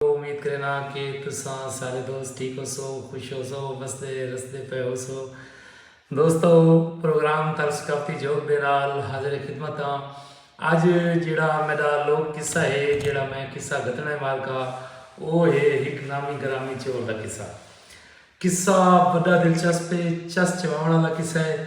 امید کرینداں کہ تساں سارے دوست ٹھیک ہوسو، خوش ہوسو، وسدے رسدے پئے ہوسو۔ دوستو پروگرام تر ثقافتی جھوک دے نال حاضر خدمت آں۔ اج جیڑھا میڈا لوک قصہ ہے، جیڑھا میں قصہ گھتنا ہے مارکا او ہے ہک نامی گرامی چور دا قصہ۔ قصہ بڈا دلچسپ ہے، چس چواونڑ آلا قصہ ہے۔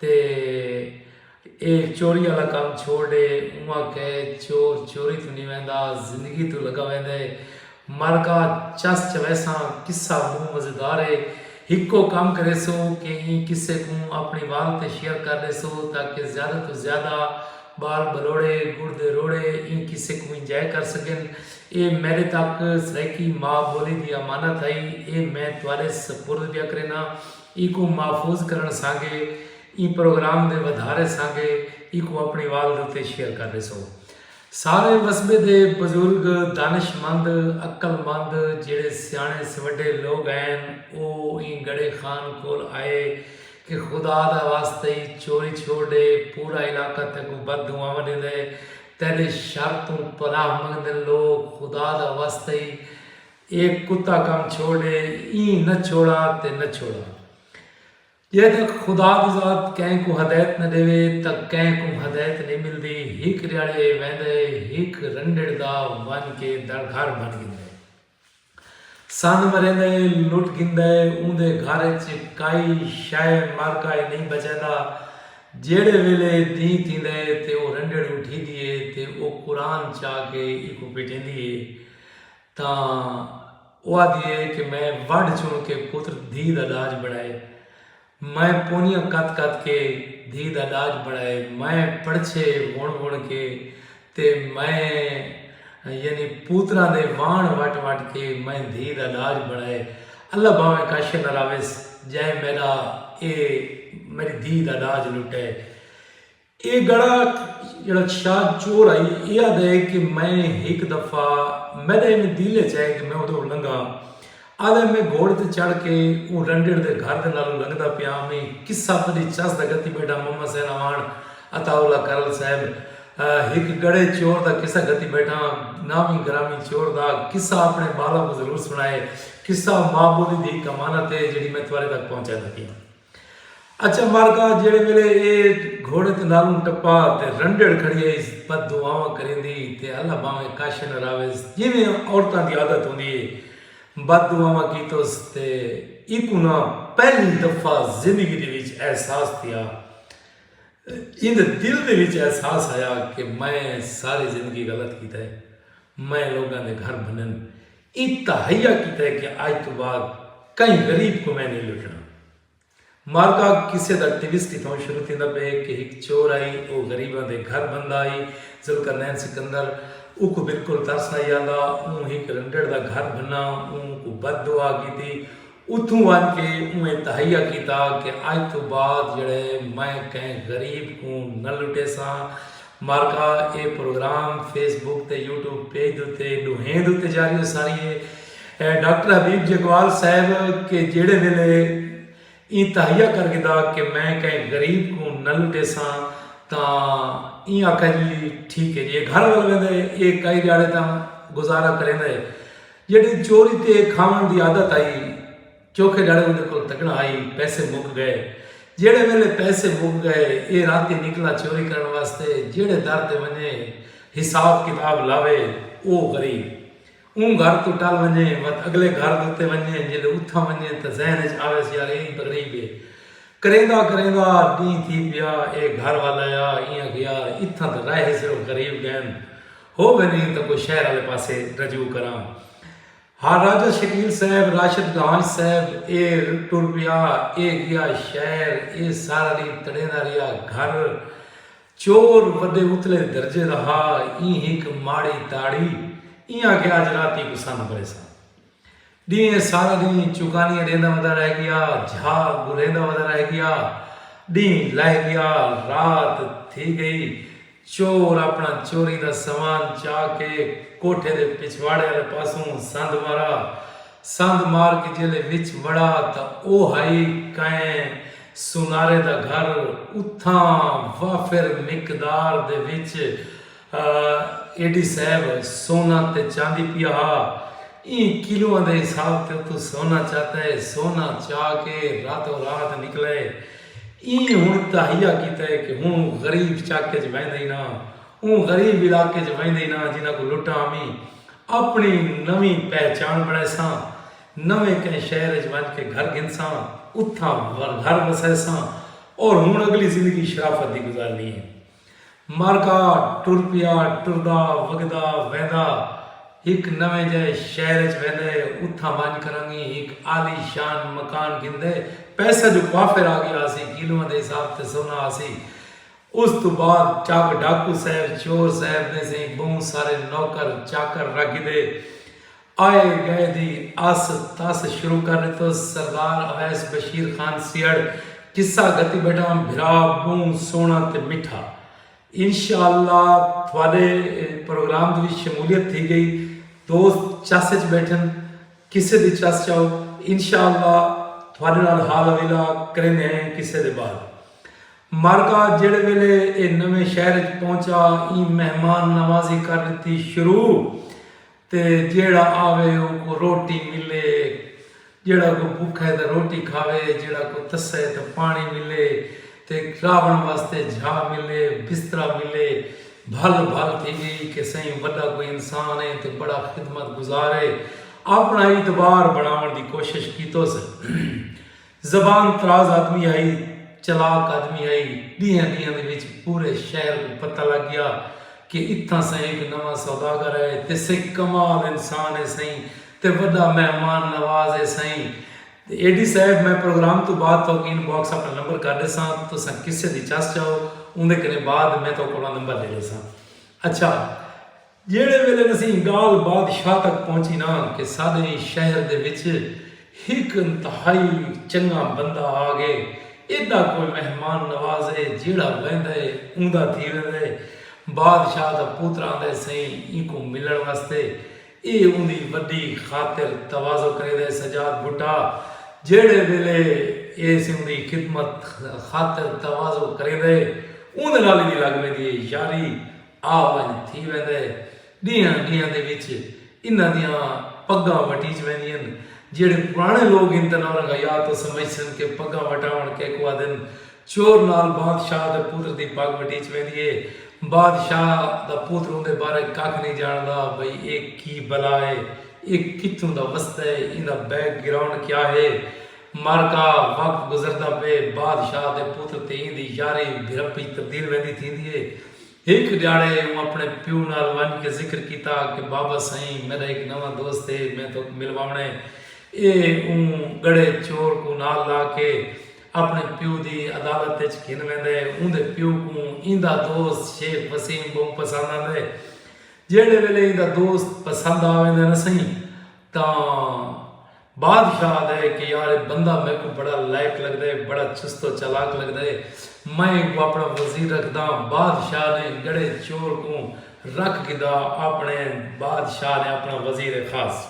تے اے چوری آلا کم چھوڑ ڈے اونہاں کہے چور چوری توں نی ویندا زندگی توں لگا ویندا اے مرگا چس چویساں قصہ بہوں مزیدار اے ہکو کم کریسو کہ ایں قصے کوں اپنی وال تے شیئر کر ڈیسو تاکہ زیادہ توں زیادہ بال بلوڑے گڑ دے روڑے ایں قصے کوں انجوائے کر سگن اے میڈے تک سرائیکی ماء بولی دی امانت ہئی اے میں تہاڈے سپرد پیا کرینا۔ ایکوں محفوظ کرݨ سانگے ایں پروگرام دے ودھارے سانگے ایکوں اپݨی والد اتے شیئر کر ݙیسو۔ سارے وسبے دے بزرگ، دانش مند، عقل مند جیڑھے سیاݨے سوڈھے لوگ ہین او ایں گڑھے خان کول آئے کہ خدا دا واسطہ ای چوری چھوڑ ݙے پورا علاقہ تیکوں بد دعاواں ݙیندے تیݙے شر توں پناہ منگدن لوگ خدا دا واسطہ ای اے کتا کم چھوڑ اے ایں نہ چھوڑا تے نہ چھوڑا۔ جے تک خدا دی ذات کہیں کوں ہدایت نہ ڈیوے تاں کہیں کوں ہدایت نئیں ملدی۔ ہک ڈیہاڑے اے ویندا اے ہک رنڈڑ دا ونج کے دڑ گھر بھن گھندا اے۔ سندھ مریندا اے لٹ گھندا اے اوندے گھر اچ کائی شئے مر کائی نئیں بچیندا۔ جیہڑے ویلے دینہہ تھیندا اے تے او رنڈڑ اٹھیدی اے تے او قرآن چا کے ایکوں پیٹیندی اے۔ تاں او آدھی اے کہ میں وڈھ چنڑ کے پتر دھی دا ڈاج بنڑائے میں پونیاں کت کت کے دھی دا ڈاج بنڑائے میں پڑچھے ونڑ ونڑ کے تے میں یعنی پوتراں دے وانڑ وٹ وٹ کے میں دھی دا ڈاج بنڑائے اللہ بھاویں کاشر نہ راویس جئیں میڈا اے میڈی دھی دا ڈاج لٹے۔ اے گڑا جیڑھا شاہ چور ہئی اے آدھا ہے کہ میں ہک دفعہ میڈا ایویں دل اچ آئے کہ میں اودے کولوں لنگا آدھا ہے میں گھوڑے تے چڑھ کے اوں رنڈڑ دے گھر دے نالوں لنگدا پیا ہاں میں قصہ پڑی چس دا گھتی بیٹھا محمد حسین اعوان عطاء اللہ کرل صاحب ہک گڑے چور دا قصہ گھتی بیٹھا ہاں نامی گرامی چور دا قصہ اپنے ٻالاں کوں ضرور سݨائے قصہ ماء ٻولی دی ہک امانت ہے جیڑھی میں تہاݙے تک پہنچائیندا پیاں۔ اچھا مالکا جیڑھے ویلے اے گھوڑے تے نالوں ٹپا تے رنڈڑ کھڑی ہئیس بد دعاواں کریندی تے اللہ بھانویں کش نہ راویس جیویں عورتاں دی عادت ہوندی ہے بد دعاواں کیتوس تے ایکوں نا پہلی دفعہ زندگی دے وچ احساس تھیا ایندے دل دے وچ احساس آیا کہ میں ساری زندگی غلط کیتا ہے میں لوگاں دے گھر بھنن ایں تہیہ کیتا ہے کہ اج توں بعد کہیں غریب کوں میں نئیں لٹنا۔ معرکہ قصے دا ٹویسٹ اتھاں شروع تھیندا پئے کہ ہک چور آئی او غریباں دے گھر بھندا آئی ذوالقرنین سکندر اوکوں بالکل ترس آئی آندا اوں ہک رنڈڑ دا گھر بھنا اوں کوں بد دعا کیتی اتھوں ونج کے اونہیں تہیہ کیتا کہ اج توں بعد جیڑھے میں کہیں غریب کوں نہ لٹیساں مارکا اے پروگرام فیس بک تے یوٹیوب پیج دوتے ڈوہیں دوتے جاری ہوساری اے ڈاکٹر حبیب جگوال صاحب کہ جیڑھے ویلے ایں تہیہ کر گھدا کہ میں کہیں غریب کوں نہ لٹیساں تاں ایں آکھا جی ٹھیک اے جی اے گھر ول ویندے اے کئی ڈیاڑے تاں گزارا کریندے۔ جیڑھی چوری تے کھاوݨ دی عادت ہئی۔ چوکھے ڈھاڑے اوندے کول تکڑاں ہئی۔ پیسے مک گئے۔ جیڑھے ویلے پیسے مک گئے ایہ راتی نکلا چوری کرݨ واسطے جیڑھے در تے ونڄے حساب کتاب لاوے او غریب۔ اوں گھر توں ٹل ونڄے وت اڳلے گھر دے اتے ونڄے جیلے اتھاں ونڄے تاں ذہن اچ آویس یار ایہ ای غریب ہے۔ کریندا کریندا ݙینہہ تھی پیا ایہ گھر ول آیا ایں آکھیا یار اتھاں تاں رہ ہی صرف غریب ڳئن۔ ہو ویندین تاں کوئی شہر آلے پاسے رجوع کراں۔ ہاں راجہ شکیل صاحب، راشد گانج صاحب، اے ٹر پیا، اے گیا شہر، اے سارا ڈینہہ تڑیندا رہیا، گھر چور وڈے اتلے درجے دا ہا، ایں ہک ماڑی تاڑی، ایہاں کہ اج راتی کوں سندھ بھریساں۔ ݙینہہ سارا ݙینہہ چکانیاں ݙیندا ودا رہ ڳیا جھا گھریندا ودا رہ ڳیا ݙینہہ لہہ ڳیا رات تھی ڳئی چور اپݨا چوری دا سامان چا کے کوٹھے دے پچھواڑے آلے پاسوں سندھ مارا سندھ مار کے جیلے وچ وڑا تاں او ہئی کئیں سونارے دا گھر اتھاں وافر مقدار دے وچ اے ڈی صاحب سونا تے چاندی پیا ہا ایں کلواں دے حساب تے اتوں سونا چاتا ہے سونا چا کے راتوں رات نکلا ہے ایں ہن تہیا کیتا ہے کہ ہن غریب چاکے چ ویندے ہی نہ اوں غریب علاقے چ ویندے ہی نہ جنہاں کو لٹا امی اپنی نویں پہچان بنائے ساں نویں کہیں شہر چ ونج کے گھر گھن ساں اتھاں گھر وسائے ساں اور ہن اگلی زندگی شرافت دی گزارنی ہے۔ مرکا ٹر پیا ٹردا وگدا ویندا ہک نویں جئے شہر اچ ویندے اتھاں ونج کرنگی ہک عالی شان مکان گھندے پیسہ جو وافر آ گیا ہاسی کیلواں دے حساب تے سونا ہاسی اس توں بعد چاک ڈاکو صاحب چور صاحب نے سیں بہوں سارے نوکر چاکر رکھ گھدے آئے گئے دی آس تاس شروع کر ݙتو سردار اویس بشیر خان سیہڑ قصہ گھتی ٻیٹھام بھرا ٻہوں سوہݨا تے مٹھا انشاء اللہ تہاݙے پروگرام دی وی شمولیت تھی ڳئی دوست چس اچ ٻیٹھن قصے دی چس چاؤ انشاء اللہ تہاݙے نال حال حویلا کریندے ہیں قصے دے بعد مارکا جیڑھے ویلے ایہ نویں شہر اچ پہنچا ایں مہمان نوازی کر ݙتی شروع۔ تے جیہڑا آوے اوکوں روٹی ملے۔ جیہڑا کوئی بکھے تاں روٹی کھاوے۔ جیہڑا کوئی تسے تاں پاݨی ملے۔ تے راہوݨ واسطے جھا ملے، بسترا ملے۔ بھل بھل تھی ڳئی کہ سئیں وݙا کوئی انسان ہے تے بڑا خدمت گزار ہے۔ آپݨا اعتبار بݨاوݨ دی کوشش کیتوس۔ زبان طراز آدمی ہئی، چلاک آدمی ہئی، ڈینہاں ڈینہاں دے وچ پورے شہر کوں پتہ لگ گیا کہ اتھاں سئیں ہک نواں سوداگر ہے تے سئیں کمال انسان ہے سئیں تے وڈا مہمان نواز ہے سئیں۔ اے ڈی صاحب میں پروگرام توں بعد تہاکوں ان باکس اپݨا نمبر کر ݙیساں تساں کسے دی چس چاؤ اوندے کنیں بعد میں تہاکوں اپݨا نمبر ݙے ݙیساں۔ اچھا۔ جیڑھے ویلے نسیں گالھ بادشاہ تک پہنچی نا کہ ساڈے شہر دے وچ ہک انتہائی چنگا بندہ آ گئے ایڈا کوئی مہمان نواز ہے جیڑھا ویندا ہے اوندا تھی ویندا ہے بادشاہ دا پوتر آندا ہے سئیں اینکوں ملن واسطے اے اوندی وڈی خاطر تواضع کریندا ہے سجاد بھٹا جیڑھے ویلے اے سئیں اوندی خدمت خاطر تواضع کریندا ہے اوندے نال ایندی لگ ویندی ہے یاری آ ونڄ تھی ویندا ہے۔ ݙینہاں ݙینہاں دے وچ انہاں دیاں پڳاں وٹیج ویندین۔ جیڑھے پراݨے لوک ہن تاں نورنگ حیات توں سمجھسن کہ پڳاں وٹاوݨ کیکوں آہدن۔ چور نال بادشاہ دے پتر دی پڳ وٹیج ویندی ہے۔ بادشاہ دا پتر اوندے بارے ککھ نئیں ڄاݨدا بھئی اے کی بلا ہے۔ اے کتھوں دا وسدا ہے۔ ایندا بیک گراؤنڈ کیا ہے۔ معرکہ وقت گزردا پئے۔ بادشاہ دے پتر تے ایندی یاری بھرپی تبدیل ویندی تھیندی ہے۔ ہک ڈیہاڑے اوں اپنے پیو نال ونج کے ذکر کیتا کہ بابا سئیں میڈا ہک نواں دوست ہے میں تہاکوں ملواونے اے اوں گڑھے چور کوں نال لا کے اپنے پیو دی عدالت اچ گھن ویندا ہے اوندے پیو کوں ایندا دوست شیخ وسیم بہوں پسند آندا ہے جیہڑے ویلے ایندا دوست پسند آ ویندا ہے نا سئیں تاں بادشاہ آہدا ہے کہ یار اے بندہ میکوں بڑا لائق لگدا ہے، بڑا چست و چالاک لگدا ہے، میں اینکوں آپݨا وزیر رکھداں، بادشاہ نے گڑھے چور کوں رکھ گھدا، آپݨے بادشاہ نے آپݨا وزیر خاص۔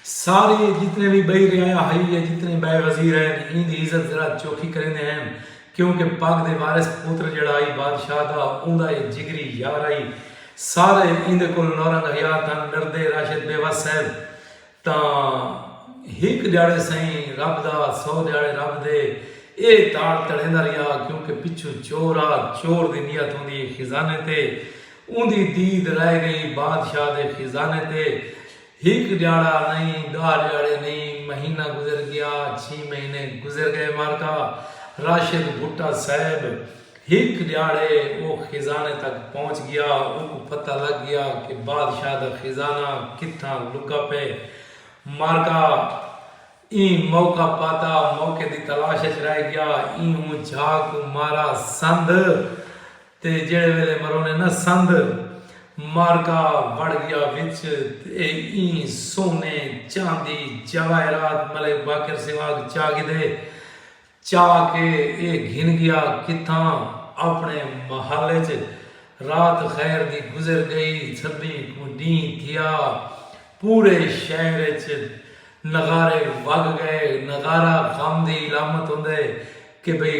سارے جتنے وی ٻئی رعایا ہئی یا جتنے ٻئے وزیر ہن ایندی عزت ذرا چوکھی کریندے ہن کیونکہ پاک دے وارث پتر جیڑھا ہئی بادشاہ دا اوندا اے جگری یار ہئی سارے ایندے کولوں نورا نغیار تھن ڈردے راشد بے وس صاحب تاں ہک ڈیاڑے سئیں رب دا سو ڈیاڑے رب دے اے تاڑ تڑیندا ریا کیونکہ پچھوں چور آ چور دی نیت ہوندی اے خزانے تے اوندی دید رہ گئی بادشاہ دے خزانے تے ہک ڈیہاڑا نئیں، ڈاہ ڈیہاڑے نئیں، مہینہ گزر گیا، چھی مہینے گزر گئے مارکا راشد بھٹہ صیب ہک ڈیہاڑے او خزانے تک پہنچ گیا اونکوں پتہ لگ گیا کہ بادشاہ دا خزانہ کتھاں لکا پئے مارکا ایں موقع پاتا موقع دی تلاش اچ رہ گیا ایں اوں جھا کوں مارا سندھ تے جیڑھے ویلے مرونے نہ سندھ معرکہ وڑ گیا وچ تے ایں سونے، چاندی، جواہرات ملک باقر سیواگ چا گھدے۔ چا کے اے گھن گیا کتھاں اپنے محل وچ رات خیر دی گزر گئی۔ سبھیں کوں ڈینہہ تھیا۔ پورے شہر وچ نغارے وگ گئے۔ نغارہ غم دی علامت ہوندے کہ بھئی۔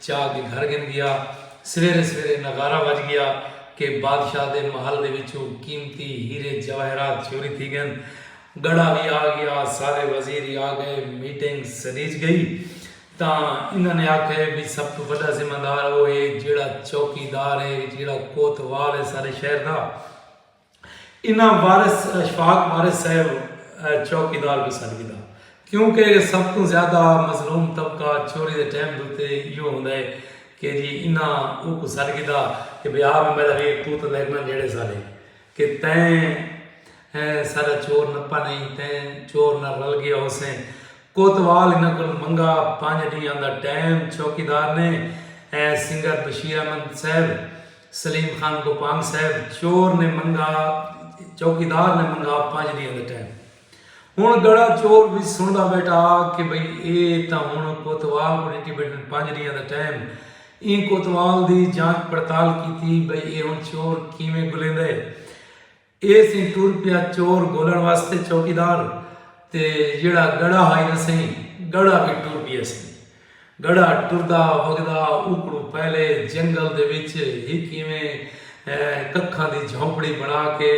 چا کے گھر گھن گیا۔ سویرے سویرے نغارہ وج گیا کہ بادشاہ دے محل دے وچوں قیمتی ہیرے جواہرات چوری تھی گئن۔ گڑھا وی آ گیا۔ سارے وزیر ہی آ گئے۔ میٹنگ سڈیج گئی۔ تاں انہاں نے آکھے بھئی سب توں وڈا ذمہ دار او ہے جیڑھا چوکی دار ہے جیڑھا کوتوال ہے سارے شہر دا۔ انہاں وارث اشفاق وارث صاحب چوکیدار کوں سڈ گھدا کیوں کہ سب توں زیادہ مظلوم طبقہ چوری دے ٹائم دوتے ایو ہوندا ہے کہ جی انہاں او کو سڈ گھدا کہ بے آ میں میرا ویر تو تلے اکنا نیڑے سارے کہ تین سارا چور نپا نہیں تین چور نہ رل گیا ہو سیں کوتوال انہاں کو منگا پانچ ڈیاں دا ٹائم چوکیدار نے سنگر بشیر احمد صاحب سلیم خان کو پانگ صاحب۔ چور نے منگا چوکیدار نے منگا پنج ڈینہ دا ٹائم۔ ہن گڑا چور وی سنڑدا بیٹھا کہ بھئی اے تاں ہن کوتوال کوں ڈتی بیٹھن پنج ڈینہ دا ٹائم۔ ایں کوتوال دی جانچ پڑتال کیتی بھئی اے ہن چور کیویں گلیندے۔ اے سئیں ٹر پیا چور گھولݨ واسطے چوکیدار تے جیڑھا گڑا ہئی نا سئیں گڑا وی ٹر پیا سئیں گڑا ٹردا وگدا اوکڑوں پہلے جنگل دے وچ ہک ایویں ککھاں دی جھونپڑی بنا کے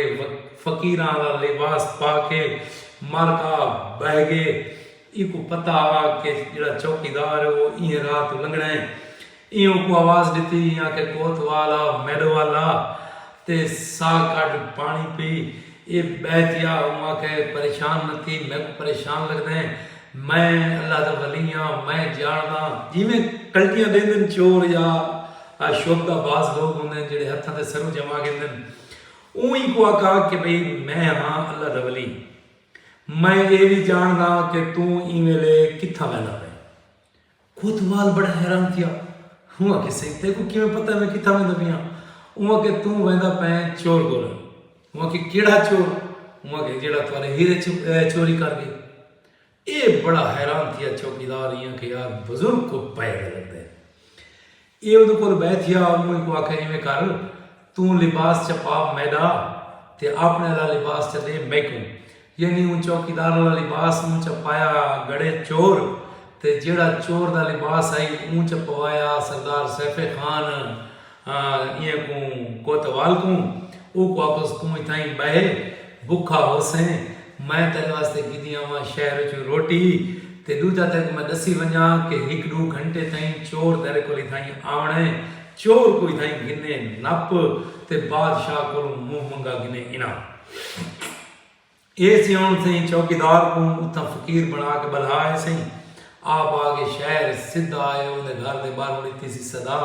فقیراں آلا لباس پا کے مر کا بہہ گئے ایکوں پتہ ہا کہ جیڑھا چوکیدار ہے او ایہے راہ توں لنگھݨا ہے ایں اوکوں آواز ݙتی ایں آکھیا کوت وال آ میݙو ول آ تے ساہ کڈھ پاݨی پی اے ٻہہ تیا اوں آکھیا اے پریشان نہ تھی میکوں پریشان لڳدیں میں اللہ دا ولی آں میں ڄاݨداں جیویں کلٹیاں ݙیندن چور یا شہدا بعض لوک ہوندن جیڑھے ہتھاں تے سروں جما گھندن اوں اینکوں آکھا کہ بھئی میں ہاں اللہ دا ولی میں اے وی ڄاݨداں کہ توں ایں ویلے کتھاں ویندا پئیں کوتوال بڑا حیران تھیا۔ اوں آکھیا سئیں تیکوں کیویں پتہ ہے میں کتھاں ویندا پیاں؟ اوں آکھیا توں ویندا پئیں چور کول۔ اوں آکھیا کیڑھا چور؟ اوں آکھیا جیڑھا تہاڈے ہیرے چوری کر گئے۔ ایہ بڑا حیران تھیا چوکیدار ایں آکھیا یار بزرگ کوں پئے دا لگدا ہے۔ ایہ اودے کولھ بہہ تھیا، اوں ایکوں آکھیا ایویں کر توں لباس چا پا میڈا تے آپنے آلا لباس چا ڈے میکوں۔ یعنی اوں چوکیدار آلا لباس مونہہ چا پایا گڑھے چور تے جیہڑا چور دا لباس ہئی اوں چا پوایا سردار سیف خان ایہہ کوں کوتوال کوں۔ اوکوں آکھیس توں اتھائیں بہہ۔ بکھا ہوسیں میں تیڈے واسطے گھدی آواں شہر اچوں روٹی تے ڈوجھا تیکوں میں ڈسی ونجاں کہ ہک ڈو گھنٹے تئیں چور تیڈے کولھ اتھائیں آونڑ اے چور کوں اتھائیں گھنے نپ تے بادشاہ کولوں منہ منگا گھنے اناں اے سی ہن سئیں چوکیدار کوں اتھاں فقیر بنا کے بلھا اے سئیں آپ آ کے شہر سدھا آئے اوندے گھر دے باہروں ڈتی سی صدا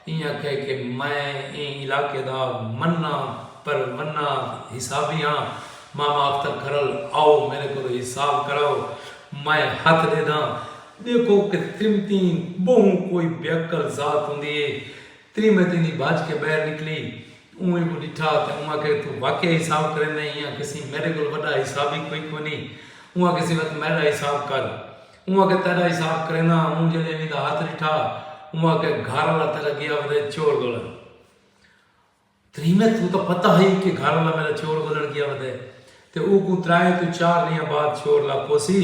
ایں آکھیا کہ میں ایں علاقے دا منا پر منا حسابی ہاں، ماما اختر کھرل آؤ میڈے کولو حساب کراؤ، میں ہتھ ڈیدھاں، ڈیکھو کہ تریمتیں بہوں کوئی بیعقل ذات ہوندی اے، تریمت ایندی بھج کے بہر نکلی، اوں اینکوں ڈٹھا تے اوں آکھیا کہ توں واقعی حساب کریندیں، ایں آکھیسی میڈے کول وڈا حسابی کوئی کونی، اوں آکھیسی وا توں میڈا حساب کر، اوں آکھیا تیڈا حساب کرینداں ہاں اوں جڈیں ایویں دا ہتھ ڈٹھا اوں آکھیا گھر آلا تیڈا گیا ودے چور گولن تریمیں توں تاں پتہ ہئی کہ گھر آلا میڈا چور گولن گیا ودے تے او کوں ترائیں توں چار ڈینہاں بعد چور لاکھوسی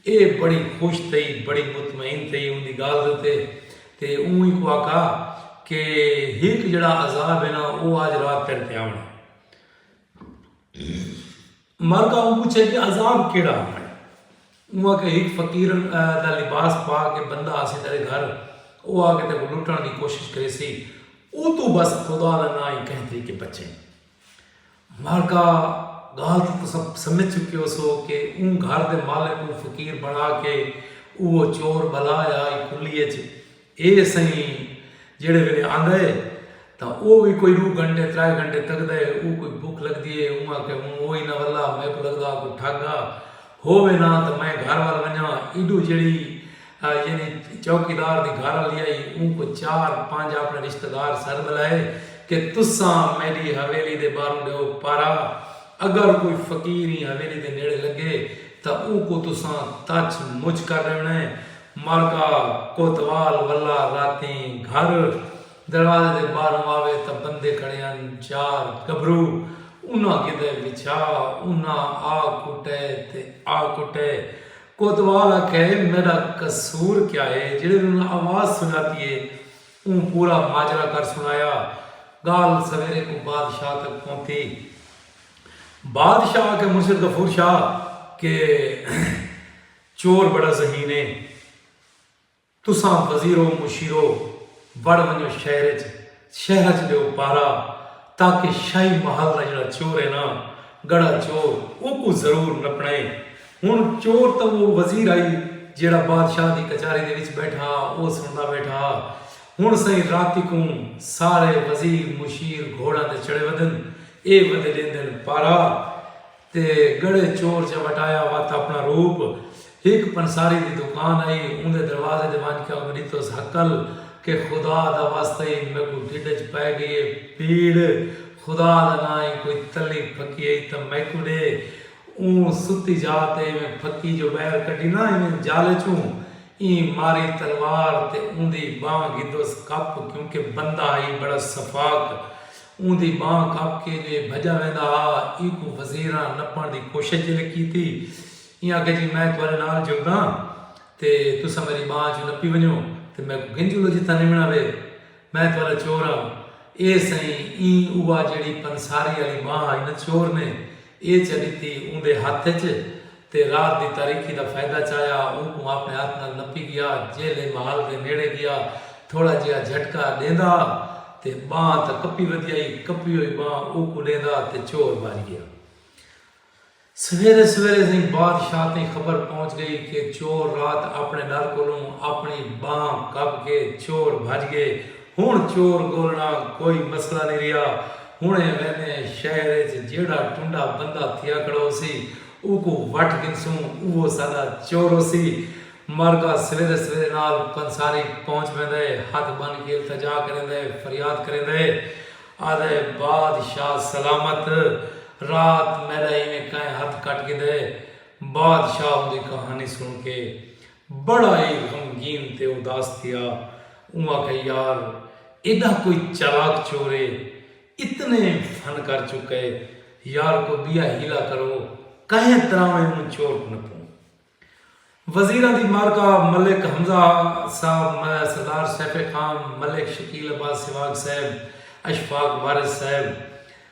اے بڑی خوش تھئی بڑی مطمئن تھئی اوندی گالھ دے اتے تے اوں اینکوں آکھا کہ ہک جڈا عذاب ہے نا او آج رات تیڈے تے آونڑ ہے۔ مرکہ اوں پچھے کہ عذاب کیڑا ہمن۔ اوں آکھیا ہک فقیر دا لباس پا کے بندہ آسی تیڈے گھر او آکے تیکوں لٹن دی کوشش کریسی اوتوں بس خدا دا ناں ہی کہیں طریقے بچیں۔ مرکہ گال تاں تساں سمجھ چکے ہوسو کہ اوں گھر دے مالک کوں فقیر بنا کے اوہ چور بلا ہئی کھلی اچ اے سئیں جیڑھے ویلے آندا اے تاں او وی کوئی ڈو گھنٹے ترائے گھنٹے تکدا اے اوں کوں بھکھ لگدی اے اوں آکھے ہن او ای نہ ولا میکوں لگدا کوئی ٹھگ گھا ہو وے نہ تاں میں گھر ول ونجاں ایڈو جیڑھی یعنی چوکیدار دی گھر آلی آئی اوں کوں چار پنج اپنے رشتہ دار سد بلائے کہ تساں میڈی حویلی دے باہروں ڈیو پارا اگر کوئی فقیر ایں حویلی دے نیڑے لگے تاں اوں کوں تساں تچ مچ کر ڈیونے معرکہ کوتوال ولا راتیں گھر دروازے دے باہروں آوے تاں بندے کھڑے ہن چار گبھرو انہاں گدھے وچھا انہاں آ کٹے تے آ کٹے کوتوال آکھے میڈا قصور کیا ہے جیڑھے وی انہاں آواز سناتی ہے اوں پورا ماجرا کر سنایا گال سویرے کوں بادشاہ تک پہنتی بادشاہ آکھے مرشد غفور شاہ کہ چور بڑا ذہین اے۔ تساں وزیرو مشیرو بڑ ونجو شہر اچ شہر اچ ڈیو پہرا تاکہ شاہی محل دا جیڑا چور اے نا گڑا چور اوکوں ضرور نپنڑے۔ ہن چور تاں او وزیر ہئی جیڑا بادشاہ دی کچاری دے وچ بیٹھا ہا او سنڑدا بیٹھا ہا۔ ہن سئیں راتی کوں سارے وزیر مشیر گھوڑاں تے چڑھے ودن اے ودے ڈیندن پہرا۔ تے گڑھے چور چا وٹایا وت اپنا روپ ہک پنساری دی دکان ائی اوندے دروازے تے ونج کے اونکوں ڈتوس ہکل کہ خدا دا واسطہ ای میکوں ڈھڈ اچ پے گئی اے پیڑ خدا دا ناں ای کوئی تلی پھکی ائی تاں میکوں ڈے اوں ستی جا تے ایویں پھکی جو بئیر کڈھی نہ ایویں جالے چوں ایں ماری تلوار تے اوندی بانہہ گھدوس کپ کیونکہ بندہ ائی بڑا سفاک اوندی ٻانہہ کپ کے جے بھڄا ویندا ہا اینکوں وزیراں نپݨ دی کوشش جے لے کیتی ایں آکھیا جی میں تہاݙے نال جلداں تے تساں میݙی ٻانہہ چوں نپی ونڄو تے میکوں گھن جلو جتھاں نمݨا وے میں تہاݙا چور ہاں اے سئیں ایں اوہا جیڑھی پنساری آلی ٻانہہ ہئی نا چور نے اے چا ݙتی اوندے ہتھ اچ تے رات دی تاریکی دا فائدہ چایا اوکوں آپݨے ہتھ نال نپی ڳیا جیلھے محل دے نیڑے ڳیا تھوڑا جیہا جھٹکا ݙیندا تے ٻانہہ تاں کپی ودیائی کپی ہوئی ٻانہہ اوکوں ݙیندا تے چور بھڄ ڳیا سویرے سویرے سئیں بادشاہ تئیں خبر پہنچ ڳئی کہ چور رات آپݨے ݙر کولوں آپݨی ٻانہہ کپ کے چور بھڄ ڳئے ہنڑ چور گولنڑا کوئی مسئلہ نی رہیا۔ ہنڑ اے ویندے ہیں شہر اچ جیہڑا ٹنڈا بندہ تھیا کھڑا ہوسی اوکوں وٹھ گھنسوں اوہو ساڈا چور ہوسی۔ مرگا سویرے سویرے نال پنساری پہنچ ویندا ہے ہتھ بن کے التجا کریندا ہے فریاد کریندا ہے آہدا ہے بادشاہ سلامت رات میڈا ایویں کائیں ہتھ کٹ گھدا ہے۔ بادشاہ اوندی کہانی سن کے بڑا ای غمگین تے اداس تھیا۔ اوں آکھیا یار ایڈا کوئی چالاک چور اے۔ اتنے فن کر چکے۔ یار کوئی بیا حیلہ کرو۔ کہیں طرح میں اوں چور کوں نپوں۔ وزیراں دی معرکہ ملک حمزہ صاحب، سردار سیف خان، ملک شکیل عباس سواگ صاحب، اشفاق وارث صاحب،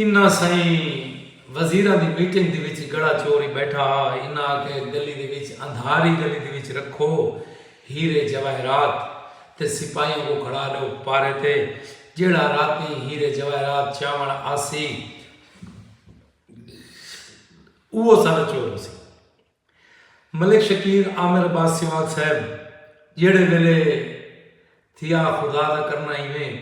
انہاں سئیں وزیراں دی میٹنگ دے وچ گڑا چور ای بیٹھا ہا، انہاں آکھیا گلی دے وچ اندھاری گلی دے وچ رکھو ہیرے جواہرات تے سپاہیاں کوں کھڑا ڈیو پارے تے جیڑھا راتیں ہیرے جواہرات چاون آسی اوہ ساڈا چور ہوسی۔ ملک شکیل عامر عباس سیوال صاحب جیہڑے ویلے تھیا خدا دا کرنا ایویں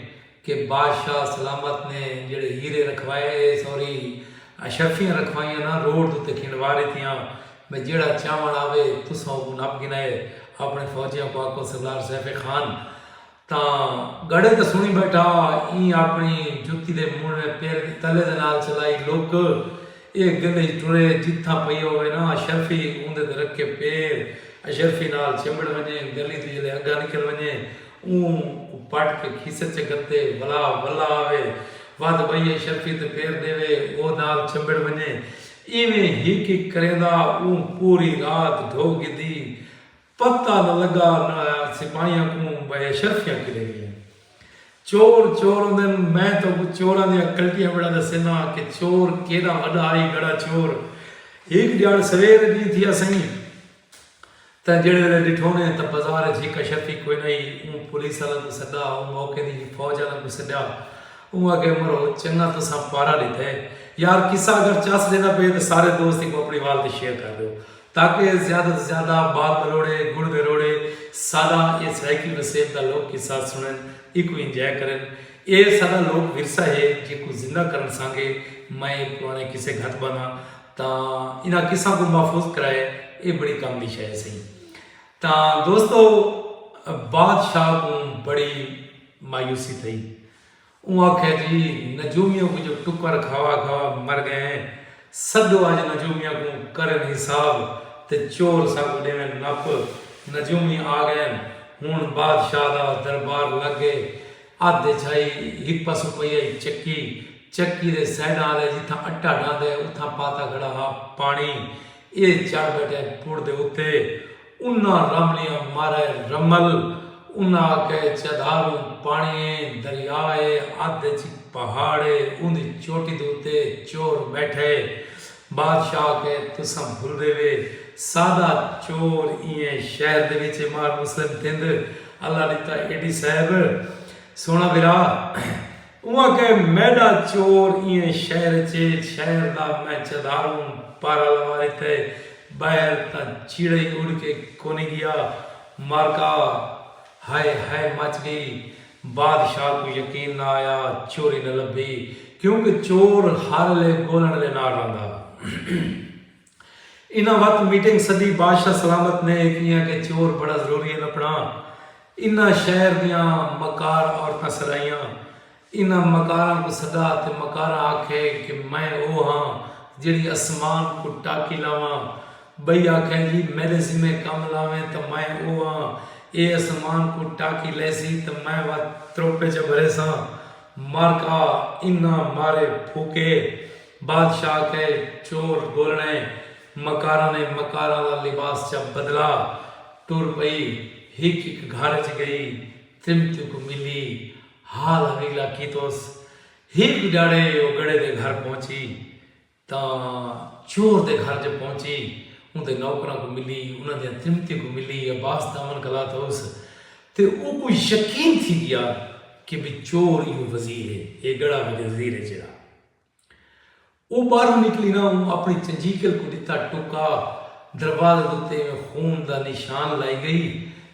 کہ بادشاہ سلامت نے جیہڑے ہیرے رکھوائے سوری اشرفیاں رکھوائیاں نا روڈ دے تے کھنڈوا ڈتیاں بھئی جیہڑا چاون آوے تساں اوکوں نپ گنائے اپنے فوجیاں کو آکھو سردار سیف خان تاں گڑھے تاں سنڑی بیٹھا ایں آپنڑی جتی دے مونڑھویں پیر دی تلے دے نال چلائی لک اے گندھئی ٹرے جتھاں پئی ہووے نا اشرفی اوندے تے رکھے پیر اشرفی نال چمبڑ ونجے گلی توں جلے اگھا نکل ونجے اوں کوں پٹ کے کھیسے چ گھتے ولا ولا آوے ودھ بئی اشرفی تے پیر ڈیوے او نال چمبڑ ونجے ایویں ہک ہک کریندا اوں پوری رات ڈھو گھدی پتہ نہ لگا سپاہیاں کوں بھئی اے شرفیاں کیڈے گئین۔ چور چور ہوندن میں تہاکوں چوراں دیاں کلٹیاں ویڑھا ڈسیناں کہ چور کیڈاں وڈا ہئی گڑا چور ہیک ڈیہاڑ سویر اڈی تھی اسئیں تاں جیڑھے ویلے ڈٹھونے تاں بزار اچ ہیک اشرفی کوئی نہ ہئی اوں پولیس آلاں کوں سڈا اوں موقع دی ہی فوج آلاں کوں سڈیا اوں آکھیا مرو چنگا تساں پارا ڈتا ہے یار قصہ اگر چس ڈیندا پئے تاں سارے دوست ایکوں اپنی وال تے شیئر کر ڈیو تاکہ زیادہ توں زیادہ بال بلوڑے، گڑ دے روڑے ساڈا اے سرائیکی وسیب دا لوک قصہ سنڑن، ایکوں انجوائے کرن۔ اے ساڈا لوک ورثہ ہے جیکوں زندہ کرنڑ سانگے میں اے پرانے قصے گھت باناں تاں انہاں قصاں کوں محفوظ کرائے اے بڑی کم دی شے ہسی۔ تاں دوستو بادشاہ کوں بڑی مایوسی تھئی۔ اوں آکھیا جی نجومیاں کوں جو ٹکر کھاوا کھاوا مر گئے ہیں سڈو اج نجومیاں کوں کرن حساب تے چور ساکوں ڈیون نپ نجومی آ گئے ہن ہن بادشاہ دا دربار لگ گئے ادھ اچ ہئی ہپا سپئی ہئی چکی چکی دے سائیڈاں آلے جتھاں اٹا ڈھاندے اتھاں پاتا کھڑا ہا پانی اے چڑھ بیٹھے پڑ دے اتے انہاں رملیاں مارئے رمل انہاں آکھئے چدھاروں پانڑی اے دریا اے ادھ اچ پہاڑ اے اوندی چوٹی دے اتے چور بیٹھئے بادشاہ آکھئے تساں بھلدے وے سادا چور ایئں شہر دے وچ اے مار مسلم تھند اللہ ڈتا ایڈی صاحب سونا بھرا۔ اوں آکھیا میڈا چور ایں شہر اچ ہے شہر دا میں چدھاروں پارا لوار اتھے بہر تاں چیڑئی اڈ کے کونی گیا معرکہ ہائے ہائے مچ گئی بادشاہ کوں یقین نہ آیا چوری نہ لبھی کیونکہ چور ہر الے گولنڑ دے نال رہندا۔ انہاں وت میٹنگ سدی بادشاہ سلامت نے کیاں کہ چور بڑا ضروری ہے نپڑاں انہاں شہر دیاں مکار عورتاں سدائیاں انہاں مکاراں کو سدا تے مکاراں آکھے کہ میں او ہاں جیڑھی اسمان کو ٹاکی لاواں بئی آکھے جی میڈے ذمے کم لاویں تاں میں او ہاں اے اسمان کو ٹاکی لیسی تاں میں وت تروپے چا بھریساں مارکا انہاں مارے پھوکے۔ بادشاہ کئے چور گولݨے مکاراں نے مکاراں دا لباس چا بدلا ٹر پئی ہک ہک گھر اچ گئی ترمتی کوں ملی حال حویلا کیتوس ہک ڈیاڑے او گڑھے دے گھر پہنچی تاں چور دے گھر جو پہنچی اوندے نوکراں کوں ملی انہاں دیاں ترمتی کوں ملی عباس دامن گھلا تھوس تے اوکوں یقین تھی گیا کہ بھئی چور ایہو وزیر ہے اے گڑھا وزیر ہے جیڑھا او باہروں نکلی نہ اوں اپنی چجیکل کوں ڈتا ٹکا دروازے دے اتے ایویں خون دا نشان لائی گئی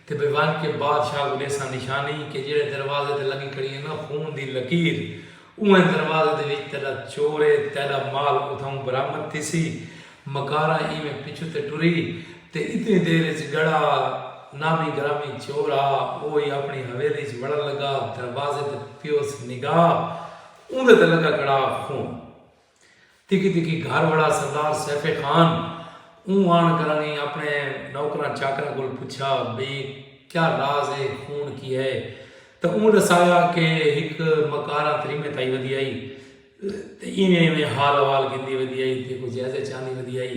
تے بے ونج کے بادشاہ کوں ڈیساں نشانی کے جیڑھے دروازے تے لگی کھڑی اے نہ خون دی لکیر اونہہ دروازے دے وچ تیڈا چور اے تیڈا مال اتھاؤں برآمد تھیسی مکارا ایویں پچھوں تے ٹری تے اتنی دیر اچ گڑا نامی گرامی چور آ او ای اپنی حویلی اچ وڑن لگا دروازے تے پیوس نگاہ اوندے تے لگا کڑا خون۔ تکی تکی گھر وڑا سردار سیف خان اوں آن کرانی اپنے نوکراں چاکراں کول پچھا بئی کیا راز اے خون کی ہے تاں اوں ڈسایا کہ ہک مکاراں تریمے تائی ودی آئی تے ایویں ایویں حال احوال گھندی ودی آئی تے کو جائزے چاندی ودی آئی۔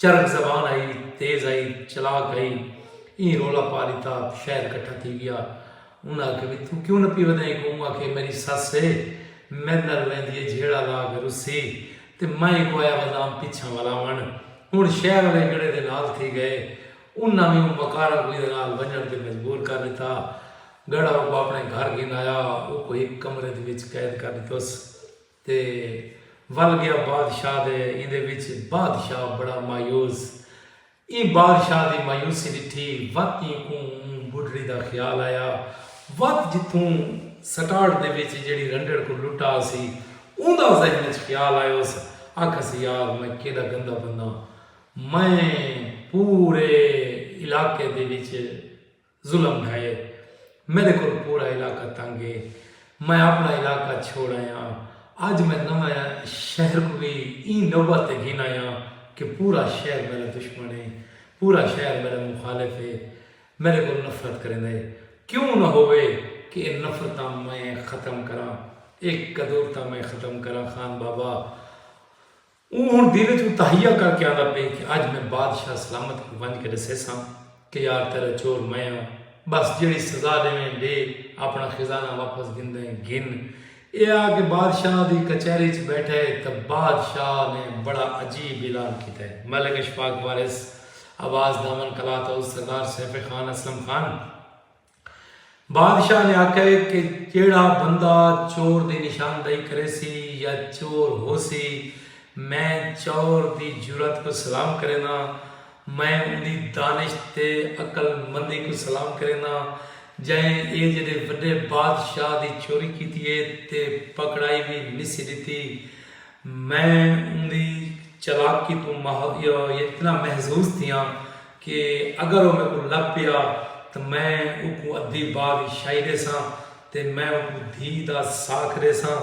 چرخ زبان آئی تیز آئی چلاک آئی ایں رولا پا ڈتا شہر کٹھا تھی گیا انہاں آکھیا وی توں کیوں نہ پیو دئیں کوں اوں آکھے میری سس ہے میڈ نال ویندی ہے جھیڑا لا کے رسی تے میں ایکوں آیا ودام پچھاں ولاون ہن شہر آلے گڑھے دے نال تھی گئے انہاں وی اوں مکاراں کوں ایندے نال ونجن تے مجبور کر ڈتا گڑھا اوکوں اپنے گھر گھن آیا اوکوں ہک کمرے دے وچ قید کر ڈتوس۔ تے ول گیا بادشاہ دے ایندے وچ بادشاہ بڑا مایوس ایں بادشاہ دی مایوسی ڈٹھی وت ایں کوں اوں بڈھڑی دا خیال آیا وت جتھوں سٹارٹ دے وچ جیڑھی رنڈڑ کوں لٹا ہسی اوندا ذہن وچ خیال آیوس آکھس یار میں کیڈا گندا بندہ میں پورے علاقے دے وچ ظلم ہے میڈے کول پورا علاقہ تنگ ہے میں اپنا علاقہ چھوڑ آیاں اج میں نواں شہر کوں وی ایں نوبت تے گھن آیاں کہ پورا شہر میڈا دشمن ہے پورا شہر میڈا مخالف ہے میڈے کول نفرت کریندا ہے کیوں نہ ہووے کہ اے نفرتاں میں ختم کراں اے قدورتاں میں ختم کراں خان بابا۔ اوں ہݨ دل ءچ اتہیا کر کے آندا پئے کہ اج میں بادشاہ سلامت کوں ونج کے ݙسیساں کہ یار تیݙا چور میں ہاں ٻس جیڑھی سزا ݙیویں ݙے آپݨا خزانہ واپس گھندیں گھن۔ ایہ آکھ کے بادشاہ دی کچہری ءچ ٻیٹھے تاں بادشاہ نے بڑا عجیب اعلان کیتے۔ ملک اشفاق وارث، عباس دامن قلات ہاؤس، سردار سیف خان، اسلم خان، بادشاہ نے آکھئے کہ جیہڑا بندہ چور دی نشاندہی کریسی یا چور ہوسی میں چور دی جرات کوں سلام کرینداں، میں اوندی دانش تے عقل مندی کوں سلام کرینداں جئیں اے جیڈے وڈے بادشاہ دی چوری کیتی اے تے پکڑائی وی نسی ڈتی۔ میں اوندی چالاکی توں اتنا محظوظ تھیاں کہ اگر او میکوں لبھ پیا تاں میں اوکوں ادھی باء دی شائی ڈیساں تے میں اوکوں دھی دا ساکھ ڈیساں۔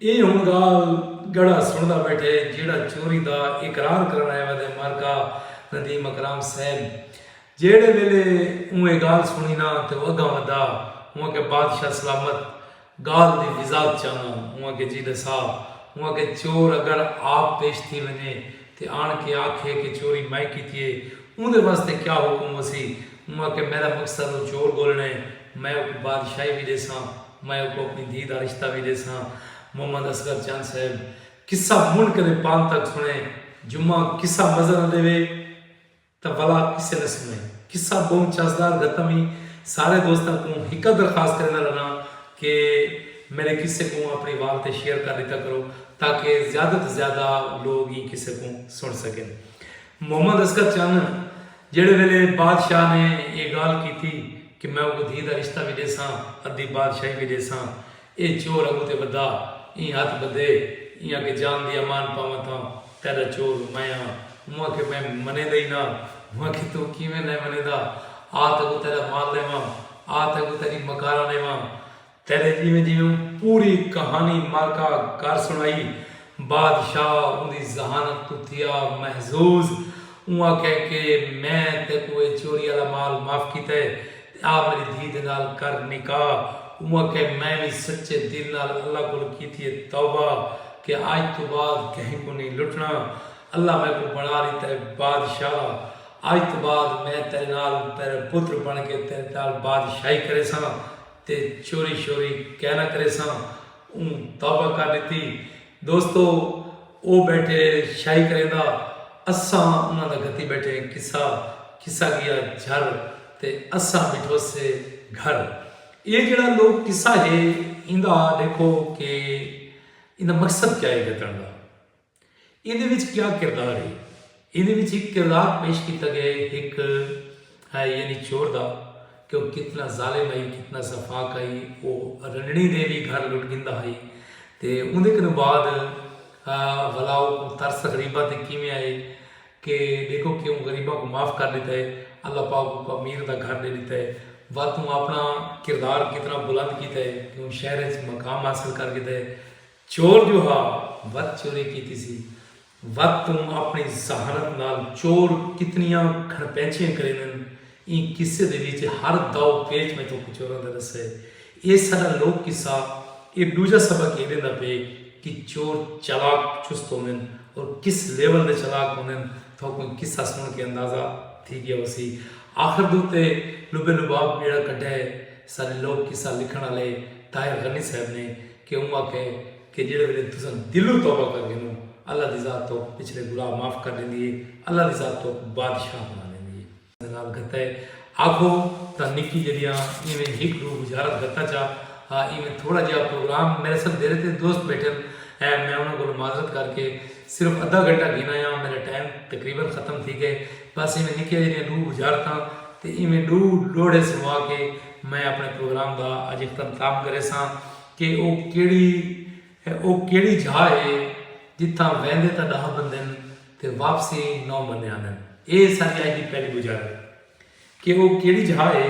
اے ہن گالھ گڑا سنڑدا بیٹھے جیہڑا چوری دا اقرار کرن آیا ویندے مرکا ندیم اکرام صاحب جیہڑے ویلے اوں اے گالھ سنڑی نا تے او اگاں ودا اوں آکھیا بادشاہ سلامت گالھ دی وضاحت چاہنداں اوں آکھیا جیلہ صاحب اوں آکھیا چور اگر آپ پیش تھی ونجے تے آن کے آکھے کہ چوری میں کیتی ہے اوں دے واسطے کیا حکم ہوسی اوں آکھیا میرا مقصد او چور گولنڑ ہے میں اوکوں بادشاہی وی ڈیساں میں اوکوں اپنی دھی دا رشتہ وی ڈیساں محمد اصغر چند صاحب قصہ منڈھ کنے پانتک سنڑے جمعہ قصہ مزہ نہ ڈیوے۔ تاں ولا کسے نہ سنویں۔ قصہ بہوں چاسدار گھتم ہی۔ سارے دوستاں کوں ہکا درخواست کریندا رہناں کہ میڈے قصے کوں اپنی وال تے شیئر کر ڈتا کرو تاکہ زیادہ توں زیادہ لوگ ایں قصے کوں سن سکن۔ محمد اصغر چن جیڈے ویلے بادشاہ نے ایہ گالھ کیتی کہ میں اوکوں دھی دا رشتہ وی ڈیساں ادھی بادشاہی وی ڈیساں۔ اے چور ابو تے ودا ایں ہتھ بدھے ایں آکھے جان دی امان پاواں تاں تیڈا چور میں آں اوں آکھے میں منیندا ای ناں اوں آکھے توں کیویں نئیں منیندا آ تیکوں تیڈا مال ڈیواں آ تیکوں تیڈی مکاراں ڈیواں تیڈے جیویں جیویں اوں پوری کہانی معرکہ کر سنڑائی بادشاہ اوندی ذہانت توں تھیا محظوظ۔ اوں آکھیا کہ میں تیکوں اے چوری آلا مال معاف کیتا ہے تے آ میڈی دھی دے نال کر نکاح۔ اوں آکھیا میں وی سچے دل نال اللہ کولھ کیتی ہے توبہ کہ اج توں بعد کہیں کوں نئیں لٹنا۔ اللہ میکوں بنڑا ڈیتا ہے بادشاہ۔ اج توں بعد میں تیڈے نال تیڈا پتر بنڑ کے تیڈے نال بادشاہی کریساں تے چوری شوری کائناں کریساں۔ اوں توبہ کر ݙتی۔ دوستو او ٻیٹھے شاہی کریندا اساں انہاں دا گھتی ٻیٹھے ہیں قصہ قصہ ڳیا جھر تے اساں ٻیٹھوسے گھر اے جیڑھا لوک قصہ ہے ایندا ݙیکھو کہ ایندا مقصد کیا ہے گھتݨ دا۔ ایندے وچ کیا کردار ہے؟ ایندے وچ ہک کردار پیش کیتا گئے ہک ہے یعنی چور دا کہ وہ کتنا ظالم آئی کتنا سفاق آئی وہ رنڑی دے بھی گھر لٹ گندا آئی تے اوندے کنو بعد بھلا وہ کو ترس غریبہ تے کیویں آئے کہ دیکھو کہ وہ غریبہ کو معاف کر دیتا ہے اللہ پاک کو امیر دا گھر دے دیتا ہے واتوں اپنا کردار کتنا بلند کیتا ہے کہ وہ شہر اچھ مقام حاصل کر گیتا ہے چور جو ہا وت چوری کیتی سی وت توں اپنڑی ذہانت نال چور کتنیاں گھنپینچیاں کریندن ایں قصے دے وچ ہر داؤ پیچ میں توں کچوراں دا ڈسا ہے ایہ ساڈا لوک قصہ ایہ ڈوجھا سبق ایہ ڈیندا پئے کہ چور چالاک چست ہوندن اور کس لیول دے چالاک ہوندن تہاکوں ایہ قصہ سن کے اندازہ تھی گیا ہوسی آخر دے اتے لبے لباب بیڑا کڈھا ہے ساڈے لوک قصہ لکھن آلے طاہر غنی صاحب نے کہ اوں آکھے کہ جیڑھے ویلے تساں دلوں توبہ کر گھنو اللہ دی ذات توک پچھلے گناہ معاف کر ڈیندی ہے اللہ دی ذات توک بادشاہ بنا ڈیندی ہے۔ نال گھتا ہے آکھو تاں نکی جیڑھیاں ایویں ہک ڈو بجارت گھتا چا ہا ایویں تھوڑا جیہا پروگرام میرے سنگ دیرے تے دوست بیٹھن ہے میں انہاں کولوں معذرت کر کے صرف ادھا گھنٹہ گھن آیاں میرا ٹائم تقریبا ختم تھی گئے بس ایویں نکیاں جیڑھیاں ڈو بجارتاں تے ایویں ڈو لوڑھے سنوا کے میں اپݨے پروگرام دا اڄ اختمتام کریساں کہ او کیڑھی او کیڑھی جھا ہے جتھاں ویندے تاں ݙاہ بندن تے واپسی نو بندے آندن اے ساݙی اڄ دی پہلی گزارت ہے کہ او کیڑھی جھا ہے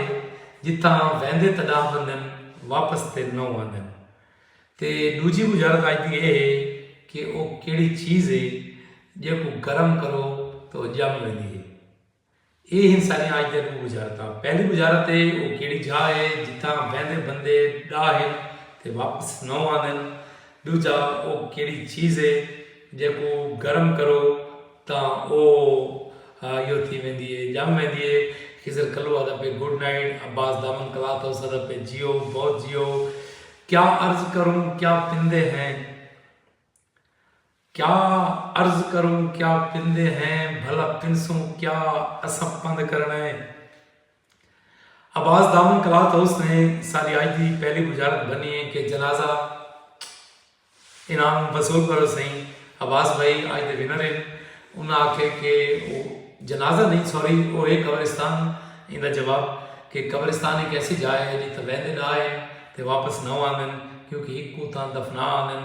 جتھاں ویندے تاں ݙاہ بندن واپس تے نو آندن تے ݙوجھی گزارت اڄ دی اے ہے کہ او کیڑھی چیز ہے جیکوں گرم کرو تاں او ڄم ویندی ہے۔ اے ہن ساݙیاں اڄ دیاں ݙو وزارتاں۔ پہلی وزارت اے او کیڑھی جاہ اے جتھاں ویندے بندے ݙاہن تے واپس نو آندن۔ ݙوجھا او کیڑھی چیز اے جیکوں گرم کرو تاں او یو تھی ویندی اے ڄم ویندی اے۔ خضر کلو آہدا پئے گڈ نائٹ عباس دامن کلاتھ ہاؤس آہدا پئے جیو بہت جیو کیا عرض کروں کیا پندے ہیں۔ کیا عرض کروں کیا پندے ہیں بھلا پنسوں کیا اساں پند کرنا ہے عباس دامن کلات ہاؤس نے ساری آج دی پہلی بجارت بنی ہے کہ جنازہ انعام وصول پر سائیں عباس بھائی آج دے ونر ہیں انہاں آکھے کہ جنازہ نہیں سوری وہ ہے قبرستان ان دا جواب کہ قبرستان ایک ایسی جا ہے جی تبین دے ڈا ہے تے واپس نہ آندن کیونکہ ایک کو تاں دفنا آندن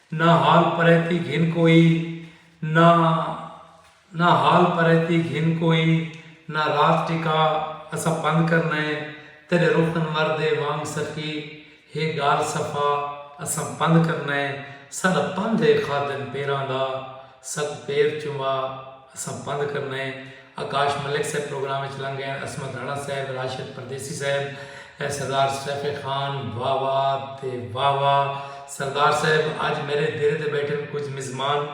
نہ حال پریتی گھن کوئی نہ نہ حال پریتی گھن کوئی نہ رات ٹکا اساں پندھ کرنا ہے تیڈے رخ انور دے وانگ سخی ہے گال صفا اساں پندھ کرنا ہے ساڈا پندھ ہے خادم پیراں دا ساکوں پیر چوا اساں پندھ کرنا ہے۔ آکاش ملک صاحب پروگرام اچ لنگ گئن، عصمت رانا صاحب، راشد پردیسی صاحب، سردار سیف خان، واہ واہ تے واہ واہ سردار صاحب اج میرے دیرے تے بیٹھن کچھ مزمان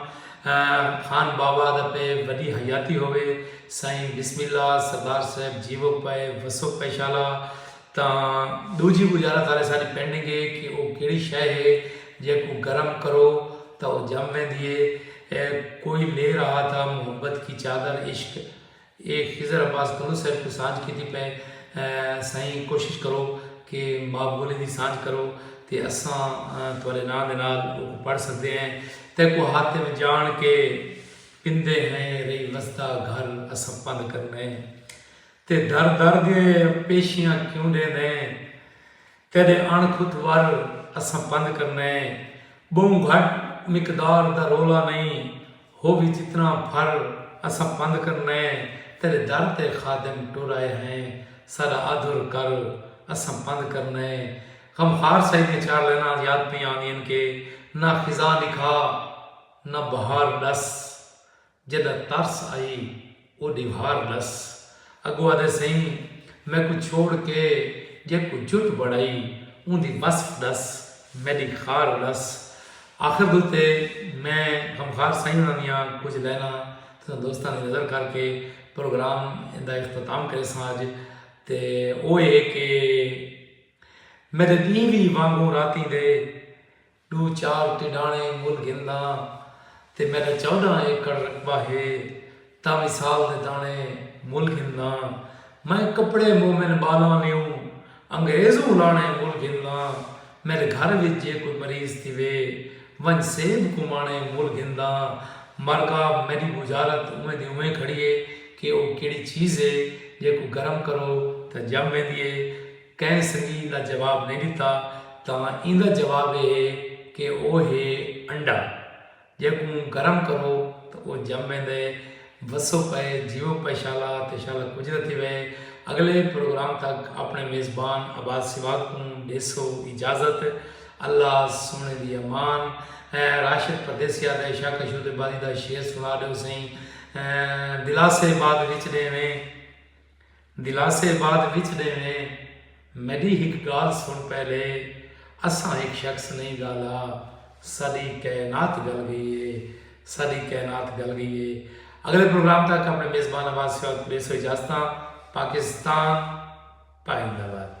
خان بابا دا پے وڈی حیاتی ہووے سائیں بسم اللہ سردار صاحب جیوو پے وسو پے شالا تاں ڈوجھی گجارا تھارے ساری پینڈنگ ہے کہ او کیڑی شے ہے جیکوں گرم کرو تاں او جم ویندی ہے اے کوئی لے رہا تھا محبت کی چادر عشق اے خضر عباس گھنو صاحب کو سانجھ کیتی پئے سائیں کوشش کرو کہ ماں بولی دی سانجھ کرو تے اساں تھارے ناں دے نال اوکوں پڑھ سکدے ہیں تیکوں ہاتھ میں جان کے پیندے ہیں رہی وسدا گھر اساں پند کرنے ہیں۔ تے در در دے پیشیاں کیوں ڈیندیں تیڈے اݨ کھت ور اساں پند کرنیں بہوں گھٹ مقدار دا رولا نئیں ہووی جتنا پھر اساں پند کرنیں تیڈے در تے خادم ٹر آئے ہیں ساڈا آدھر کر اساں پند کرنیں غمخوار سائی دیاں چار لائناں اج یاد پئیاں آندین کہ نہ خزاں ڈکھا نہ بہار ڈس جݙاں ترس آئی او ݙیوار ݙس اڳوں آہدے سئیں میکوں چھوڑ کے جیکوں جٹ بݨائی اوندی وصف ݙس میݙی خار ݙس آخر دے اتے میں غمخار سئیں انہاں دیاں کجھ لائناں تساں دوستاں دی نظر کر کے پروگرام دا اختتام کریساں اج تے او اے کہ میݙے ݙینہہ وی وانگوں راتیں دے ݙو چار ٹݙاݨے مل گھنداں تے میݙا چوݙاں ایکڑ رقبہ ہے تاں وی سال دے داݨے مل گھنداں میں کپڑے مومن ٻالاں لیوں انگریزوں لاݨے مل گھنداں میݙے گھر وچ جے کوئی مریض تھیوے ونڄ سیب کوں ماݨے مل گھنداں مرکا میݙی ٻجھارت اونویں دی اونویں کھڑی ہے کہ او کیڑھی چیز ہے جیکوں گرم کرو تاں ڄم ویندی ہے کہیں سنگی ایندا جواب نئیں ݙتا تاں ایندا جواب ایہ ہے کہ او ہے انڈا جیکوں گرم کرو تاں او ڄم ویندے وسو پئے جیو پئے شالا تے شالا کجھ نہ تھیوے اگلے پروگرام تک اپݨے میزبان عباس سواڳ کوں ݙیسو اجازت اللہ سوہݨے دی امان اے راشد پردیسی آہدے شاکر شو تے بازی دا شعر سݨا ݙیو سئیں دلاسے بعد وچ ݙیویں۔ دلاسے بعد وچ ݙیویں۔ میݙی ہک ڳالھ سݨ پہلے، اساں ہک شخص نئیں ڳالا، ساݙی کائنات ڳل ڳئی اے، ساݙی کائنات ڳل ڳئی اے۔ اڳلے پروگرام تک اپݨے میزبان آواز سیال پولیس توں اجازتاں، پاکستان پائندہ باد۔